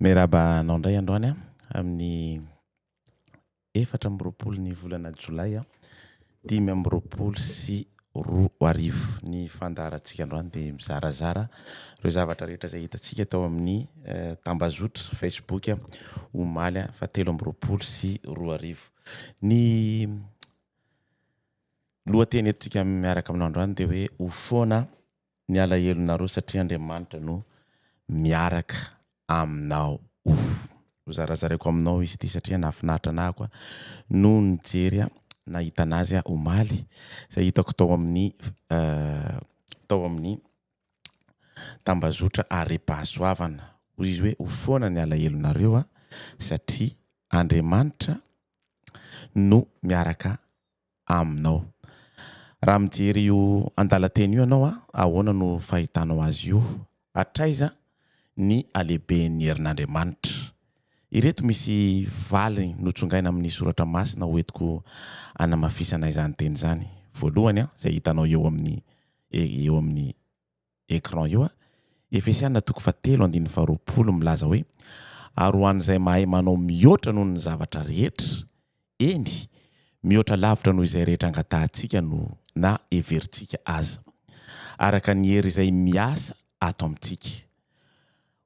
Miarahaba anao indray androany an! amin'ny efatra amby roapolo ny volana jolay dimy amby roapolo sy roa arivo. Ny fandaharantsika androany dia mizarazara ireo zavatra rehetra izay hitantsika tao amin'ny tambazotra facebook omaly faha telo amby roapolo sy roa arivo. Ny lohateny entintsika miaraka aminao androany dia hoe ho foana ny alahelonareo satria Andriamanitra no miaraka aminao oh. Ho zarazaraiko aminao izy ity satria nahafinaritra anah aho no nijery nahita anazy omaly izay hitako tao amin'ny tao amin'ny tambazotra arem-pahasoavana hoy izy hoe ho foana ny alahelonareo satria Andriamanitra no miaraka aminao. Raha mijery io andalan-teny io ianao, ahoana no fahitanao azy io? Hatraiza ny halehiben'ny herin'Andriamanitra? Ireto misy valy notsongaina amin'ny soratra masina hoentiko hanamafisana izany teny izany. Voalohany, izay hitanao eo amin'ny eo amin'ny. écran io a! Efesiana toko fahatelo andininy faharoapolo milaza hoe, Ary ho an'izay mahay manao mihoatra noho ny zavatra rehetra, eny, mihoatra lavitra noho izay rehetra angatahantsika no na heverintsika aza, araka ny hery izay miasa ato amintsika.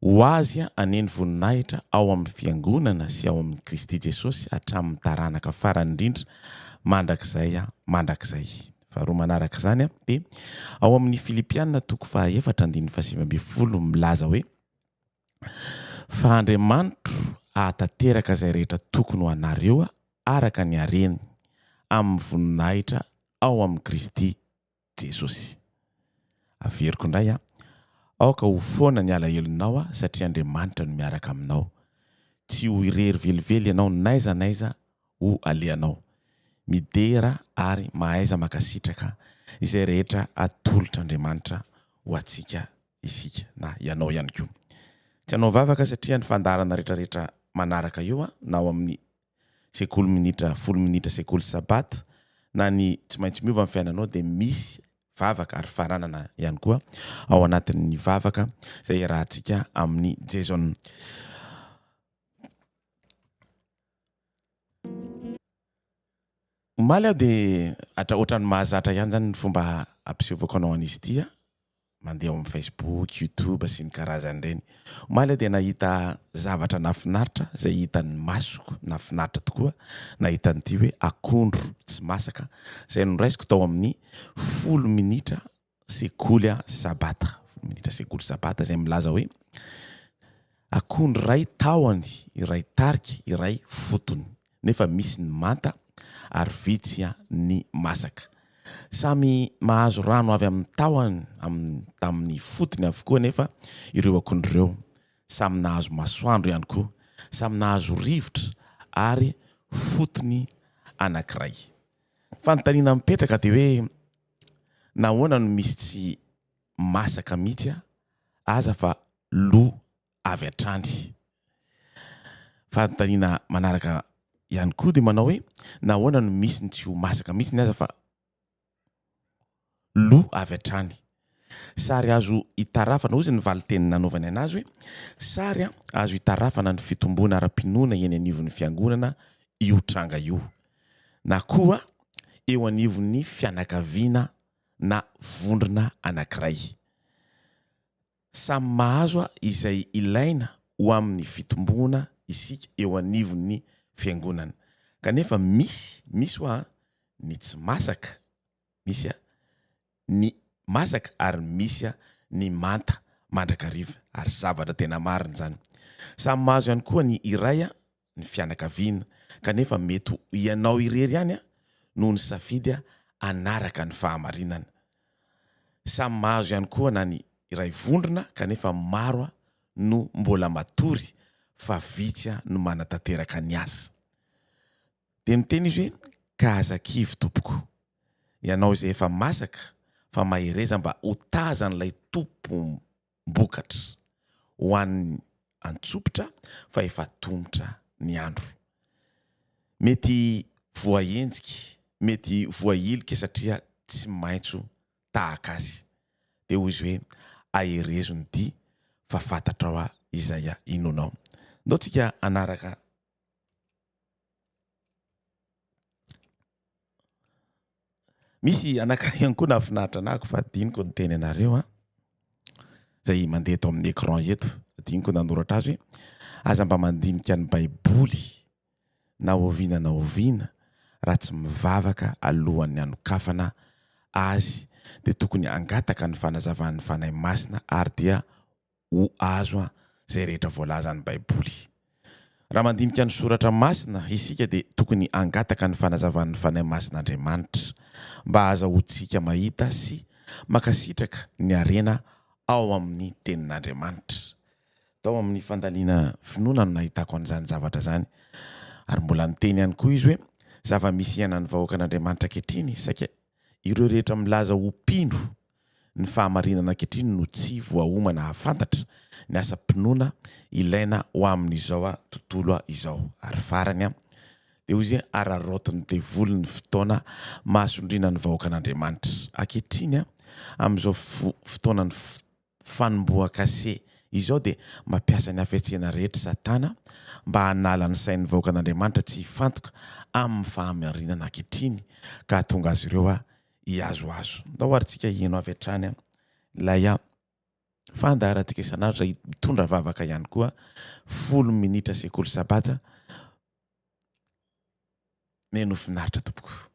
Ho azy anie ny voninahitra ao amin'ny Fiangonana sy ao amin'i Kristy Jesosy hatramin'ny taranaka farany indrindra mandrakizay mandrakizay. Faharoa manaraka izany dia ao amin'ny Filipiana toko fahaefatra andininy fahasivy ambin'ny folo milaza hoe fa Andriamanitro ahatanteraka izay rehetra tokony ho anareo araka ny hareny amin'ny voninahitra ao amin'i Kristy Jesosy. Averiko indray an! Aoka ho foana ny alahelonao aho satria Andriamanitra no miaraka aminao. Tsy ho irery velively ianao n'aiza n'aiza ho alehanao. Midera ary mahaiza makasitraka izay rehetra atolotr'Andriamanitra ho antsika isika na ianao ihany koa. Tsy hanao vavaka satria ny fandaharana retraretra manaraka eo na ao amin'ny sekoly minitra folo minitra sekoly sabata na ny tsy maintsy miova ny fiainanao dia misy vavaka ary faranana ihany koa ao anatin'ny vavaka izay iarahantsika amin'ny Jason Omaly aho dia atra ohatran'ny mahazatra ihany izany ny fomba hampisevoko anao an'izy ity a! mandeha ao amin'ny Facebook, YouTube sy ny karazany ireny. Omaly aho dia nahita zavatra nahafinaritra izay hitan'ny masoko, nahafinaritra tokoa nahita an'ity hoe akondro tsy masaka izay noraisiko tao amin'ny folo minitra sekoly a sabata minisitra sekoly sabata izay milaza hoe akondro iray tahony iray tarika iray fotony nefa misy ny manta ary vitsy a ny masaka samy mahazo rano avy amin'ny tahony amin'ny tamin'ny fotony avokoa nefa ireo akondro ireo samy nahazo masoandro ihany koa samy nahazo rivotra ary fotony anankiray fanontaniana mipetraka dia hoe Nahoana no misy tsy masaka mihitsy aza fa lo avy hatrany? Fanontaniana manaraka ihany koa dia manao hoe nahoana no misy ny tsy ho masaka mihitsy ny aza fa lo avy hatrany? Sary azo itarafana, hoy izy ny valin-teny nanaovany an'azy hoe sary azo itarafana ny fitomboana ara-pinoana eny anivon'ny Fiangonana io tranga io. na koa eo anivon'ny fianakaviana na vondrona anankiray. Samy mahazo izay ilaina ho amin'ny fitomboana isika eo anivon'ny Fiangonana. Kanefa misy, misy ho'a, ny tsy masaka, misy ny masaka ary misy ny manta mandrakariva. Ary zavatra tena marina izany. Samy mahazo ihany koa ny iray ny fianakaviana, kanefa mety ho ianao irery ihany no nisafidy hanaraka ny fahamarinana. Samy mahazo ihany koa na ny iray vondrona kanefa maro no mbola matory fa vitsy no manatanteraka ny asa. Dia miteny izy hoe, Ka aza kivy tompoko, ianao izay efa masaka fa mahereza mba ho tazan'ilay Tompo mbokatra ho an'ny antsopitra fa efa tomotra ny andro. Mety voahenjika, mety voahilika satria tsy maitso tahaka azy. Dia hoy izy hoe, aherezo ny dia fa fantatrao aho izay inoanao. Ndao tsika hanaraka. Misy anankiray ihany koa nahafinaritra anah fa adinoko ny teny anareo an! izay mandeha eto amin'ny écran eto. Adinoko ny nanoratra azy hoe, aza mba mandinika ny baiboly na oviana na oviana raha tsy mivavaka alohan'ny hanokafana azy dia tokony hangataka ny fanazavan'ny Fanahy Masina ary dia ho azo izay rehetra voalazan'ny Baiboly. Raha mandinika ny Soratra Masina isika dia tokony hangataka ny fanazavan'ny Fanahy Masin'Andriamanitra mba hahazahoantsika mahita sy mankasitraka ny harena ao amin'ny Tenin'Andriamanitra. Tao amin'ny fandaniana finoana no nahitako an'izany zavatra izany. Ary mbola niteny ihany koa izy hoe, Zava-misy iainan'ny vahoakan'Andriamanitra ankehitriny saika ireo rehetra milaza ho mpino Ny fahamarinana ankehitriny no tsy voaomana hahafantatra ny asam-pinoana ilaina ho amin'izao tontolo izao. Ary farany, dia hoy izy, araraotin'ny devoly ny fotoana mahasondriana ny vahoakan'Andriamanitra. Ankehitriny, amin'izao fotoanan'ny fanombohan-kase izao, dia mampiasa ny hafetsena rehetra Satana mba hanala ny sain'ny vahoakan'Andriamanitra tsy hifantoka amin'ny fahamarinana ankehitriny, ka hahatonga azy ireo hihazohazo. Ndao ary tsika hino avy hatrany ilay fandaharantsika isan'andro izay mitondra vavaka ihany koa folo minitra sekoly sabata neno finaritra tompoko.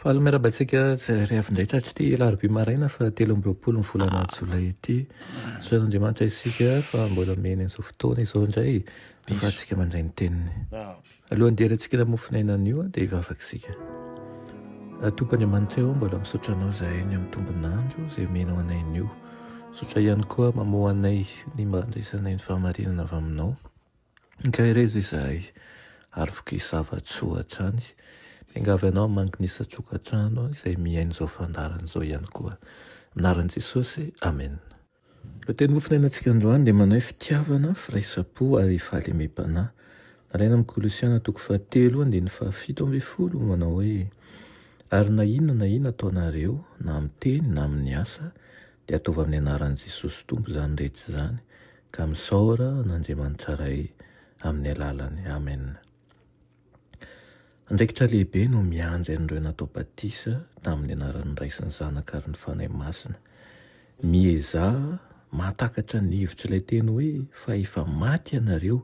Faly miarahaba antsika tsirairay avy indray tratry ity alarobia maraina fa telo amby roapolo ny volana jolay ity. Soran'Andriamanitra isika fa mbola omeny an'izao fotoana izao indray ahafahantsika mandray ny teniny. Alohan'ny deratsika ilay mofon'aina anio dia hivavaka isika. Tompo Andriamanitra eo mbola misaotra anao izahay ny amin'ny tombon'andro izay omenao anay anio. Misaotra ihany koa mamoa anay ny mba handraisanay ny fahamarinana avy aminao. Nikaherezo izahay ary voky zava-tsoa hatrany. Miangavy anao hamangy ny isan-tokantrano izay mihaino izao fandaharana izao ihany koa. Amin'ny anaran'i Jesosy, amena. Ilay teny hofonainantsika androany dia manahy fitiavana, firaisam-po ary fahalemem-panahy. Nalaina amin'ny Kolosiana toko fahatelo andininy fahafito ambin'ny folo, manao hoe, Ary na inona na inona ataonareo, na amin'ny teny na amin'ny asa, dia ataovy amin'ny anaran'i Jesosy Tompo izany rehetra izany, ka misaora an'Andriamanitsaray amin'ny alalany. Amen. Andraikitra lehibe no miandry an'ireo natao batisa tamin'ny anaran'ny Ray sy ny Zanaka ary ny Fanahy Masina. Miezaha mahatakatra ny hevitr'ilay teny hoe fa efa maty ianareo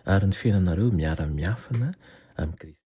ary ny fiainanareo miara-miafina amin'i Kristy.